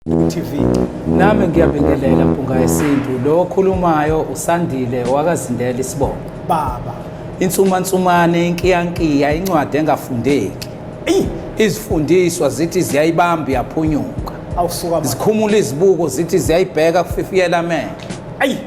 TV nami ngiyabingelela mpunga yesintu lo okhulumayo usandile wakazindela isibongo baba insumansumane inkiyankiya incwadi engafundeki eyi izifundiswa zithi ziyayibamba yaphunyuka awusuka zikhumula izibuko zithi ziyayibheka kufifiyela amehlo ayi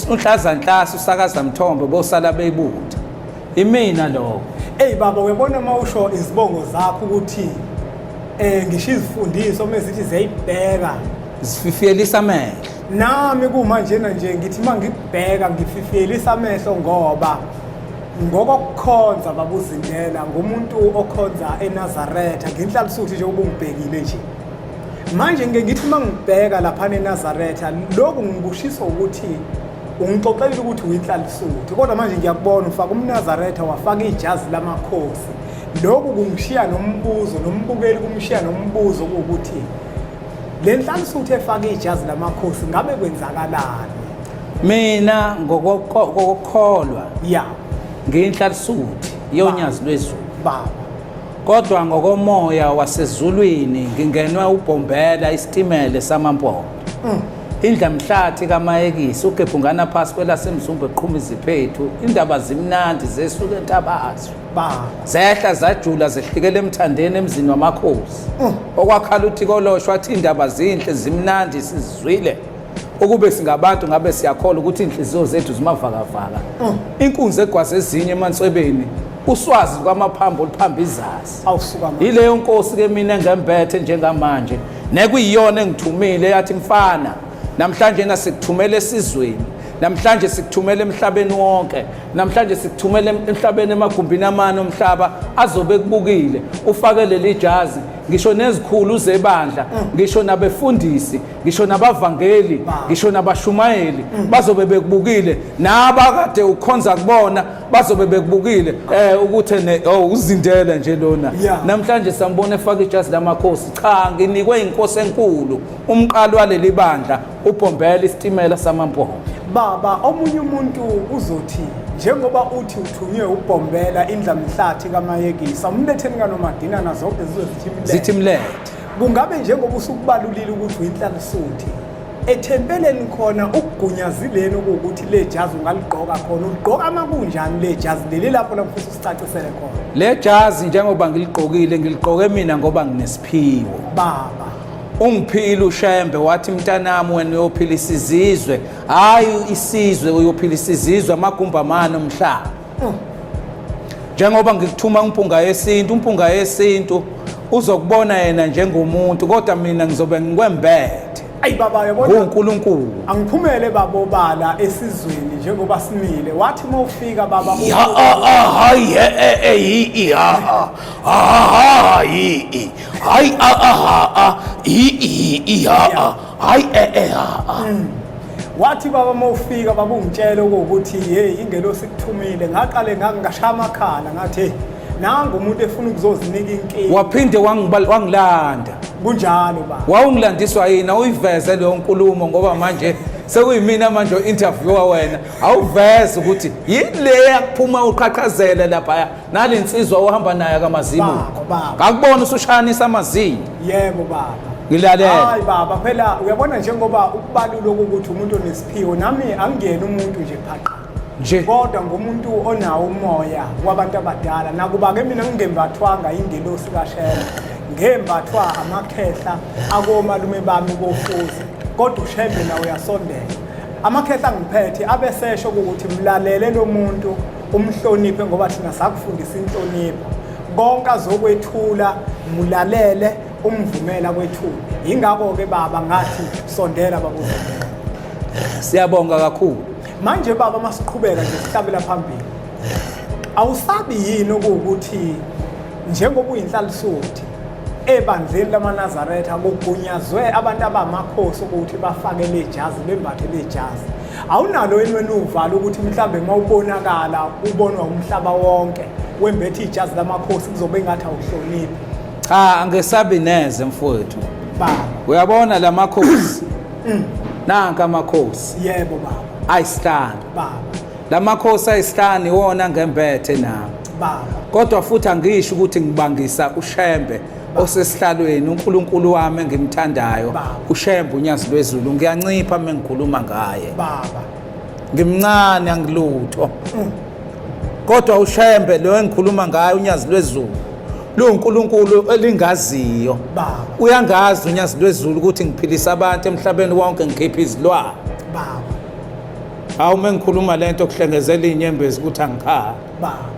unhlaza nhlasa usakaza mthombo bosala beyibuthi Imina lokho. Ey baba uyabona uma usho izibongo zakho ukuthi eh ngisho izifundiso uma zithi ziyayibheka zififiyelisa amehlo. Nami kuma njena nje ngithi uma ngibheka ngififiyelisa amehlo ngoba ngokokukhonza babuzindela ngumuntu okhonza eNazaretha ngenhlalisuthi nje ubungibhekile nje. manje ngike ngithi uma ngibheka laphana enazaretha lokhu ngikushiso ukuthi ungixoxelile ukuthi uyinhlalisuthi kodwa manje ngiyakubona ufaka umnazaretha wafaka ijazi lamakhosi lokhu kungishiya nombuzo nombukeli kumshiya nombuzo ukuthi le nhlalisuthi efaka ijazi lamakhosi ngabe kwenzakalani mina ngokokholwa ya ngiyinhlalisuthi yonyazi lwezulu baba Kodwa ngokomoya wasezulwini ngingenwe ubhombela isitimele samampondo. Mm. Indla mhlathi kamayekisi ugebhungana phasi kwelasemzumbe qhuma iziphethu indaba zimnandi zesuke entabazwe. Ba. Zehla zajula zehlikele emthandeni emzini wamakhosi. Mm. Okwakhala uthi koloshwa athi indaba zinhle zimnandi sizizwile. ukube singabantu ngabe siyakholwa ukuthi inhliziyo zethu zimavakavaka mm. inkunzi egwaze ezinye emanswebeni uswazi lukamaphambo oluphamba izazi yileyo nkosi ke mina engembethe njengamanje nekuyiyona engithumile yathi mfana namhlanje nasikuthumela esizweni namhlanje sikuthumela emhlabeni wonke namhlanje sikuthumela emhlabeni emagumbini amane omhlaba azobe kubukile ufake leli jazi ngisho nezikhulu zebandla ngisho nabefundisi ngisho nabavangeli ngisho nabashumayeli bazobe bekubukile nabakade ukhonza kubona bazobe bekubukile eh ukuthi ne oh uzindele nje lona Yeah. namhlanje sambona efaka ijazi lamakhosi cha nginikwe inkosi enkulu umqalo waleli bandla ubhombela isitimela samampondo baba omunye umuntu uzothi njengoba uthi uthunywe ubhombela indlamhlathi kamayekisa umletheni kanomadina nazo zonke zizozithi mlele zithi mlethe kungabe njengoba usukubalulile ukuthi uyinhlalisuthi ethempeleni khona ukugunyazileni ukuthi le jazi ungaligqoka khona uligqoka uma kunjani le jazi leli lapho lapho futhi usicacisele khona le jazi njengoba ngiligqokile ngiligqoke mina ngoba nginesiphiwo baba ungiphile ushembe wathi mntanami wena uyophilisa izizwe hhayi isizwe uyophilisa izizwe amagumbi amane omhlaba njengoba ngikuthuma umpunga yesintu umpunga yesintu uzokubona yena njengomuntu kodwa mina ngizobe ngikwembethe ayi baba yabona uNkulunkulu angiphumele babo bala esizweni njengoba simile wathi uma ufika baba ya hayi eyi ya hayi hayi hayi ya hayi eh eh ha ha mm. wathi baba uma ufika baba ungitshele ukuthi hey ingelosi kuthumile ngaqale ngangashaya amakhala ngathi nangu umuntu efuna ukuzozinika inkinga waphinde wangilanda kunjalo ba wawungilandiswa yini awuyiveze leyo nkulumo ngoba manje sekuyimina manje o-interviewer wena awuveze ukuthi yini le yakuphuma uqhaqhazela laphaya nale nsizwa ohamba nayo akamazimu Baba, baba. ngakubona usushayanisa amazinyo yebo baba ngilalele hayi baba phela uyabona njengoba ukubalula ukuthi umuntu onesiphiwo nami angingeni umuntu nje phaqa nje kodwa ngomuntu onawo umoya wabantu abadala nakuba-ke mina ngingembathwanga ingelosi kashela ngembathwa amakhehla akomalume bami bofuzi kodwa ushembe nawe uyasondela amakhehla angiphethe abesesho ukuthi mlalele lo muntu umhloniphe ngoba thina sakufundisa inhlonipho konke azokwethula mulalele umvumela kwethula yingakho-ke baba ngathi sondela babuze siyabonga kakhulu manje baba masiqhubeka nje sihlabela phambili awusabi yini okuwukuthi njengoba uyinhlalisuthi ebandleni lamanazaretha kugunyazwe abantu abamakhosi ukuthi bafake lejazi bembathe lejazi awunalo yini wena uvalo ukuthi mhlawumbe uma ubonakala ubonwa umhlaba wonke wembethe ijazi lamakhosi kuzobe ingathi awuhloniphi cha angesabi neze mfowethu baba uyabona la makhosi mm. nanka amakhosi yebo baba ayisihlanu baba la makhosi ayisihlanu iwona ngembethe nami baba kodwa futhi angisho ukuthi ngibangisa ushembe osesihlalweni uNkulunkulu wami engimthandayo uShembe uNyazi lweZulu ngiyancipha uma ngikhuluma ngaye baba ngimncane angilutho mm. kodwa uShembe lo engikhuluma ngaye uNyazi lweZulu luNkulunkulu elingaziyo baba uyangazi uNyazi lweZulu ukuthi ngiphilisa abantu emhlabeni wonke ngikhipha izilwane baba hawu uma ngikhuluma lento kuhlengezela inyembezi ukuthi angikhali Baba.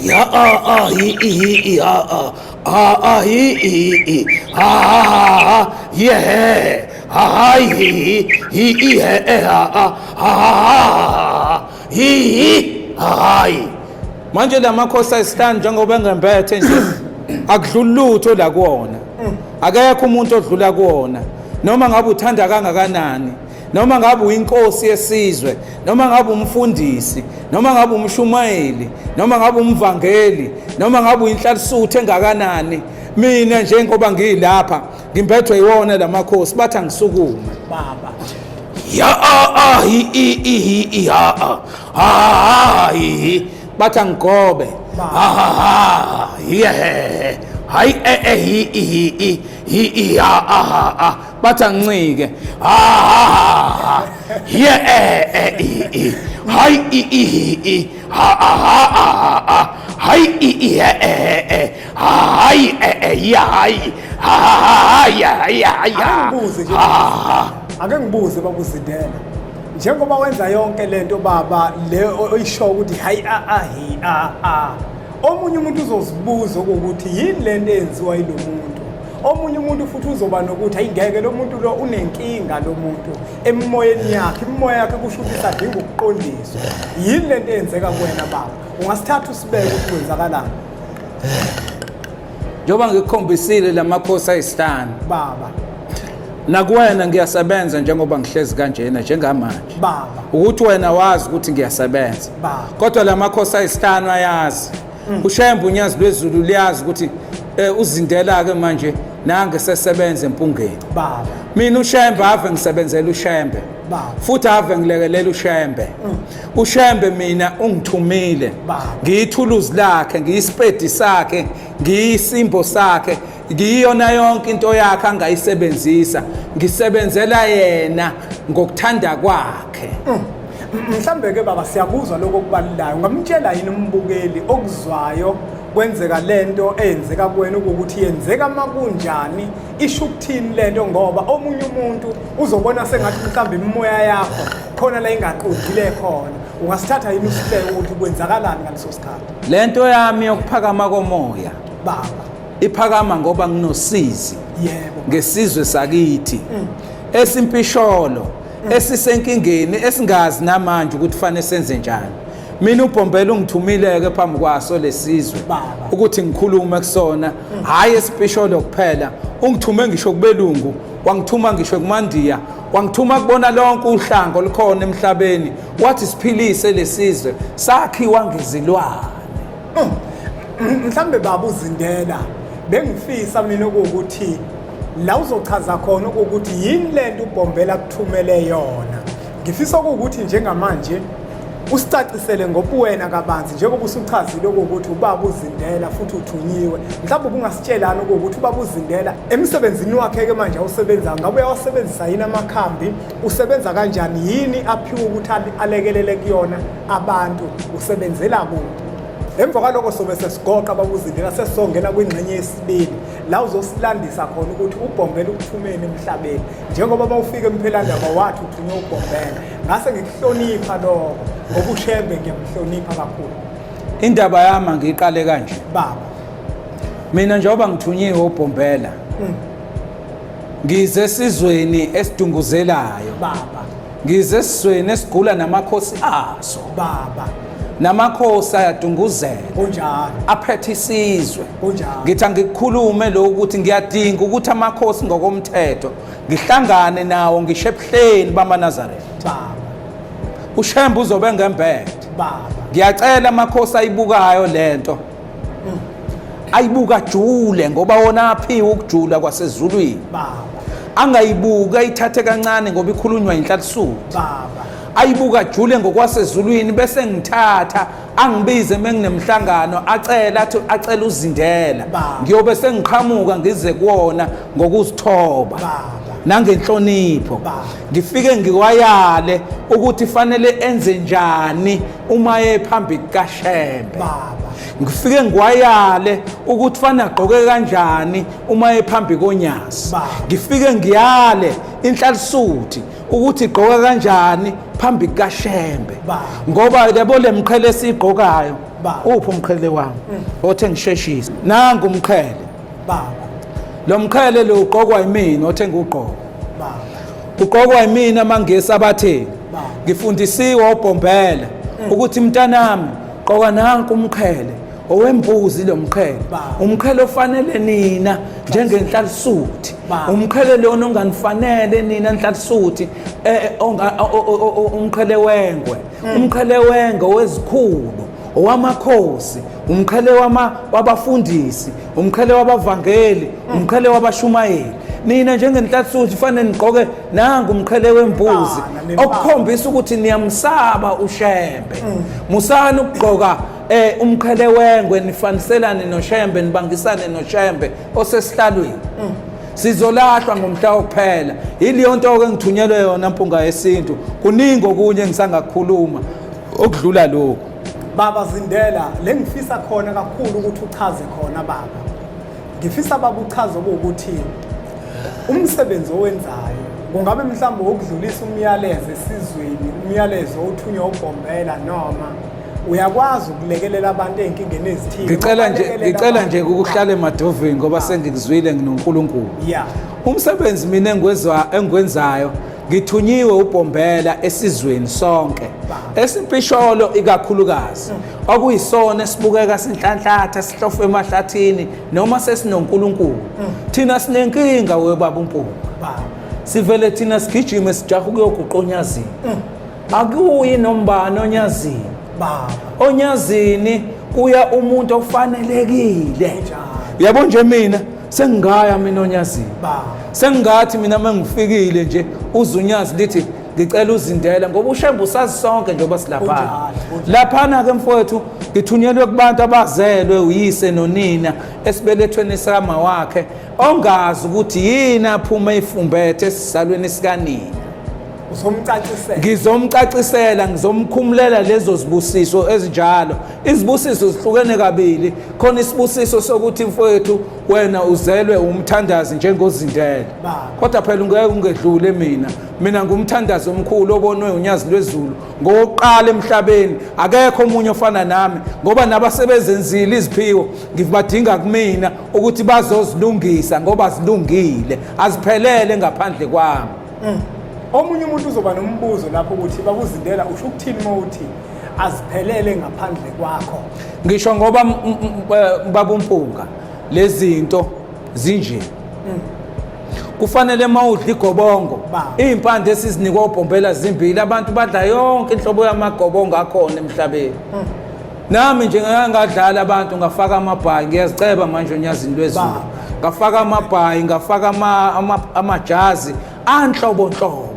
Ya a a hi i hi i a a a a hi i hi i ha ha ha ha hi he he ha ha hi hi hi hi i he e ha a ha ha ha ha hi hi ha ha hi manje la makhosi ayisihlanu njengoba engembethe nje akudluli lutho la kuwona akekho umuntu odlula kuwona noma ngabe uthanda kangakanani noma ngabe uyinkosi yesizwe noma ngabe umfundisi noma ngabe umshumayeli noma ngabe umvangeli noma ngabe uyinhlalisuthi engakanani mina njengoba ngiyilapha ngimbethwe iwona lamakhosi bathi angisukume baba ya a a hi i i hi i ha a ha ha hi hi bathi angigobe ha ha ha hi he hayi e e hi i hi i hi i ha a ha a bathi angincike ha ye eh, eh, i i hayi i i i ha ha ha hayi i i he e e hayi e e ya hayi ha ha ya ya ya angibuze nje ake ngibuze babuzidela njengoba wenza yonke lento baba le oyisho ukuthi hayi a a hi a a omunye umuntu uzozibuza ukuthi yini lento eyenziwa yilomuntu omunye umuntu futhi uzoba nokuthi ayingeke lo muntu lo unenkinga lo muntu emimoyeni yakhe imimoya yakhe kusho ukuthi isadinga ukuqondiswa yini le nto eyenzeka kuwena baba ungasithatha usibeke ukuthi kwenzakalani njengoba ngikukhombisile la makhosi ayisihlanu baba nakuwena ngiyasebenza njengoba ngihlezi kanjena njengamanje baba ukuthi wena wazi ukuthi ngiyasebenza baba kodwa la makhosi ayisihlanu ayazi mm. ushembe unyazi lwezulu liyazi ukuthi eh, uzindela ke manje nange sesebenza empungeni baba mina ushembe ave ngisebenzela ushembe baba futhi ave ngilekelela ushembe mm. ushembe mina ungithumile ngiyithuluzi lakhe ngiyisipedi sakhe ngiyisimbo sakhe ngiyiyona yonke into yakhe angayisebenzisa ngisebenzela yena ngokuthanda kwakhe mm. mhlambe ke baba siyakuzwa lokho okubalulayo ngamtshela yini umbukeli okuzwayo kwenzeka lento eyenzeka kuwena ukuthi yenzeka makunjani isho ukuthini lento ngoba omunye umuntu uzobona sengathi mhlawumbe imimoya yakho khona la ingaqondile khona ungasithatha yini usihleke ukuthi kwenzakalani ngaleso sikhathi lento yami yokuphakama komoya baba Iphakama ngoba nginosizi yebo ngesizwe sakithi mm. esimpisholo mm. esisenkingeni esingazi namanje ukuthi fanele senze njani mina ubhombela ungithumileke phambi kwaso lesizwe ukuthi ngikhulume kusona mm. hayi esipisholo kuphela ungithume ngisho kubelungu wangithuma ngisho kumandiya wangithuma kubona lonke uhlanga olukhona emhlabeni wathi siphilise lesizwe sakhiwa ngezilwane Oh, mhlambe baba uzindela bengifisa mina ukuthi la uzochaza khona ukuthi yini lento ubhombela kuthumele yona ngifisa ukuthi njengamanje usicacisele ngobuwena kabanzi njengoba usuchazile ukuthi ubaba uzindela futhi uthunyiwe mhlawumbe ubungasitshelani ukuthi ubaba uzindela emsebenzini wakhe-ke manje awusebenzayo ngabe uyawasebenzisa yini amakhambi usebenza kanjani yini aphiwe ukuthi alekelele kuyona abantu usebenzela kuphi emva kwaloko sobe sesigoqa babuzindela sesongena kwingxenye yesibili la uzosilandisa khona ukuthi ubhombela ukuphumeni emhlabeni njengoba bawufika emphelandaba wathi uthunywe ubhombela ngase ngikuhlonipha lokho ngoba ushembe ngiyamhlonipha kakhulu indaba yami ngiyiqale kanje baba mina njengoba ngithunyiwe ubhombela mm. ngize esizweni esidunguzelayo baba Ngize esizweni esigula namakhosi aso baba namakhosi ayadunguzela kunjalo aphethe isizwe kunjalo ngithi angikukhulume lo ukuthi ngiyadinga ukuthi amakhosi ngokomthetho ngihlangane nawo ngisho ebuhleni bamanazaretha baba ushembe uzobe ngembethe baba ngiyacela amakhosi ayibukayo lento ayibuka jule ngoba wona aphiwe ukujula kwasezulwini angayibuki ayithathe kancane ngoba ikhulunywa inhlalisuthi ayibuka jule ngokwasezulwini bese ngithatha angibize menginemhlangano acela athi acela uzindela ngiyobe sengiqhamuka ngize kuwona ngokuzithoba nangenhlonipho ngifike ngiwayale ukuthi fanele enze njani uma ephambi kukaShembe baba ngifike ngiwayale ukuthi fana agqoke kanjani uma ephambi konyazi ngifike ngiyale inhlalisuthi ukuthi igqoka kanjani phambi kukaShembe ngoba yabo lemqhele esigqokayo uphi umqhele wami mm. othe ngisheshise nangu umqhele baba lo mqhele lo uqokwa yimina othe ngiwugqoka baba uqokwa yimina amangesi abathe Baba. ngifundisiwe obhombhela ukuthi mntanami qoka nanku umqhele owembuzi lo mqhele Baba. umqhele ofanele nina njengenhlalisuthi Baba. umqhele lona onganifanele nina nhlalisuthi eh, onga- o- o- o- o- umqhele wengwe umqhele wengwe wezikhulu owamakhosi umqhele wama wabafundisi umqhele wabavangeli umqhele wabashumayeli nina njengenhlathuthi fanele nigqoke nangu umqhele wembuzi Ah, okukhombisa ukuthi niyamsaba ushembe Mm. musani ukugqoka eh umqhele wengwe nifaniselane noshembe nibangisane noshembe osesihlalweni Mm. sizolahlwa ngomhla wokuphela yileyonto ke ngithunyelwe yona mpunga yesintu kuningi okunye engisangakukhuluma okudlula lokhu baba zindela le ngifisa khona kakhulu ukuthi uchaze khona baba ngifisa baba uchaze ukuthi umsebenzi owenzayo kungabe mhlawumbe wokudlulisa umyalezo esizweni umyalezo othunywa ubhombela noma uyakwazi ukulekelela abantu ezinkingeni ezithile ngicela nje ngicela nje ukuhlala emadovini ngoba ah. sengikuzwile nginoNkulunkulu yeah umsebenzi mina engwezwa engwenzayo Ngithunyiwe uBhombela esizweni sonke esimpisholo ikakhulukazi okuyisona esibukeka sinhlanhlatha sihlofe emahlathini noma sesinoNkulunkulu thina sinenkinga webaba uMpunga sivele thina sigijime sijaha ukuyoguqonyazini akuyi nombani onyazini baba onyazini kuya umuntu ofanelekile yabo nje mina sengingaya mina onyazini baba sengingathi mina uma ngifikile nje uzunyazi lithi ngicela uzindela ngoba ushembe usazi sonke njengoba silaphana laphana-ke mfowethu ngithunyelwe kubantu abazelwe uyise nonina esibelethweni sikama wakhe ongazi ukuthi yini aphume ifumbethe esisalweni sikanina ngizomcacisela ngizomkhumulela lezo zibusiso ezinjalo izibusiso zihlukene kabili khona isibusiso sokuthi mfowethu wena uzelwe umthandazi njengozindele kodwa phela ungeke ungedlule mina mina ngumthandazi omkhulu obonwe unyazi lwezulu ngowokuqala emhlabeni akekho omunye ofana nami ngoba nabasebezenzile iziphiwo ngibadinga kumina ukuthi bazozilungisa ngoba zilungile aziphelele ngaphandle kwami Mm. Omunye umuntu uzoba nombuzo lapho ukuthi bakuzindela usho ukuthini uma uthi aziphelele ngaphandle kwakho. Ngisho ngoba eh, babumpunga lezinto zinje. Mm. kufanele uma udla igobongo iy'mpande esizinikwa obhombela zimbili abantu badla yonke inhlobo yamagobongo akhona emhlabeni hmm. nami nje ngangadlali abantu ngafaka amabhayi ngiyaziceba manje onyazini lwezulu ngafaka amabhayi ngafaka amajazi anhlobonhlobo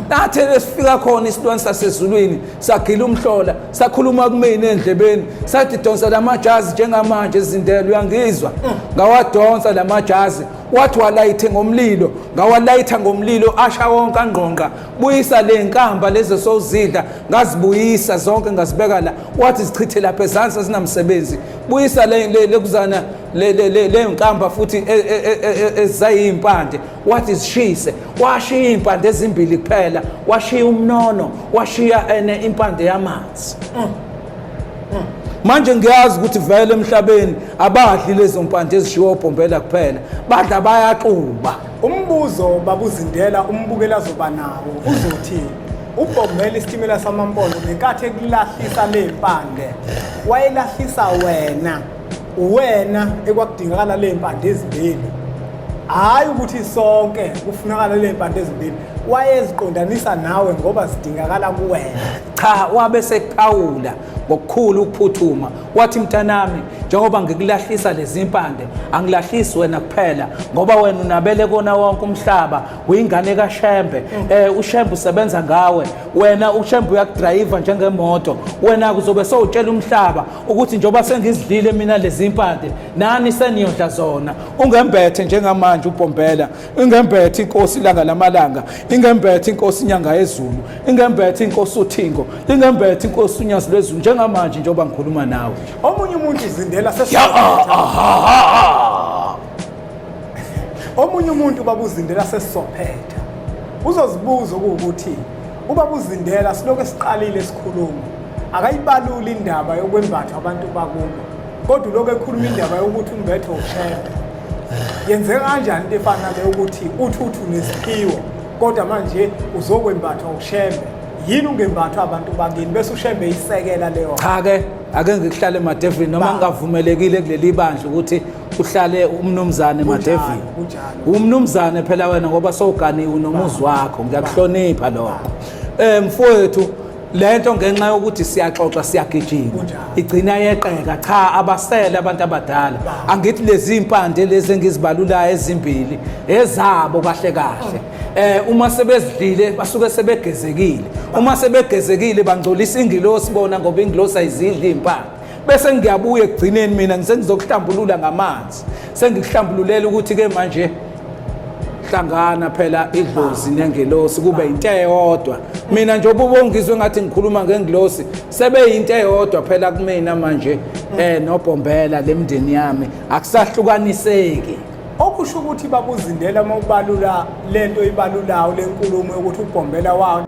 nathe lesifika khona isilwane sasezulwini sagila umhlola sakhuluma kumina endlebeni sathi donsa lamajazi njengamanje ezindela uyangizwa ngawadonsa lamajazi wathi walayithe ngomlilo ngawalayitha ngomlilo asha wonke angqongqa buyisa le nkamba lezo sowuzidla ngazibuyisa zonke ngazibeka la wathi zichithe lapha ezansi azinamsebenzi buyisa lekuzana leyo nkamba futhi e, e, e, ezayimpande wathi zishise washiya iy'mpande ezimbili kuphela washiya umnono washiya ene impande yamanzi mm. Mm. manje ngiyazi ukuthi vele emhlabeni abadli lezo mpande ezishiwa obhombela kuphela badla bayaxuba Umbuzo babuzindela umbukeli azoba nawo uzothi ubhombela isitimela samampondo ngenkathi ekulahlisa le mpande wayelahlisa wena wena ekwakudingakala le mpande ezimbili hhayi ukuthi sonke kufunakala le mpande ezimbili wayeziqondanisa nawe ngoba zidingakala kuwena cha wabe sekuphawula ngokukhulu ukuphuthuma wathi mntanami njengoba ngikulahlisa lezi mpande angilahlisi wena kuphela ngoba wena unabele kona wonke umhlaba uyingane kashembe um ushembe usebenza ngawe wena ushembe uyakudrayiva njengemoto wena kuzobe sowutshela umhlaba ukuthi njengoba sengizidlile mina lezi mpande nani seniyodla zona ungembethe njengamanje ubhombela ingembethe inkosi ilanga lamalanga ingembethe inkosi inyanga yezulu ingembethe inkosi uthingo ingembethe inkosi unyazi lwezulu njengamanje njengoba ngikhuluma nawe omunye umuntu izindela omunye umuntu babuzindela sesizophetha uzozibuza ukuthi ubabuzindela silokhu esiqalile isikhuluma akayibaluli indaba yokwembathwa abantu bakubo kodwa lokho ekhuluma indaba yokuthi umbethe ushembe yenzeka kanjani into efana nale yokuthi uthuthu nesiphiwo kodwa manje uzokwembathwa ushembe yini ungembathwa abantu bakini bese ushembe isekela leyo cha ke ake ngikuhlale madevini noma ngingavumelekile kuleli bandla ukuthi uhlale umnumzane madevini umnumzane phela wena ngoba sowuganiwe nomuzi wakho ngiyakuhlonipha lokho um mfowethu le nto ngenxa yokuthi siyaxoxa siyagijima igcina yeqeka cha abasele abantu abadala angithi lezi mpande lezi engizibalulayo ezimbili ezabo kahle kahle eh uma sebezidlile basuke sebegezekile uma sebegezekile bangcolisa ingilosi bona ngoba ingilosi ayizidli impande bese ngiyabuya ekugcineni mina ngisengizokuhlambulula ngamanzi sengikuhlambululela ukuthi ke manje hlangana phela idlozi nengelosi kube into eyodwa mina nje ububongizwe ngathi ngikhuluma ngengilosi sebeyinto eyodwa phela kumina manje eh nobhombela lemndeni yami akusahlukaniseki okusho ukuthi babuzindela uma ubalula lento ibalulawo lenkulumo yokuthi ubhombela wawo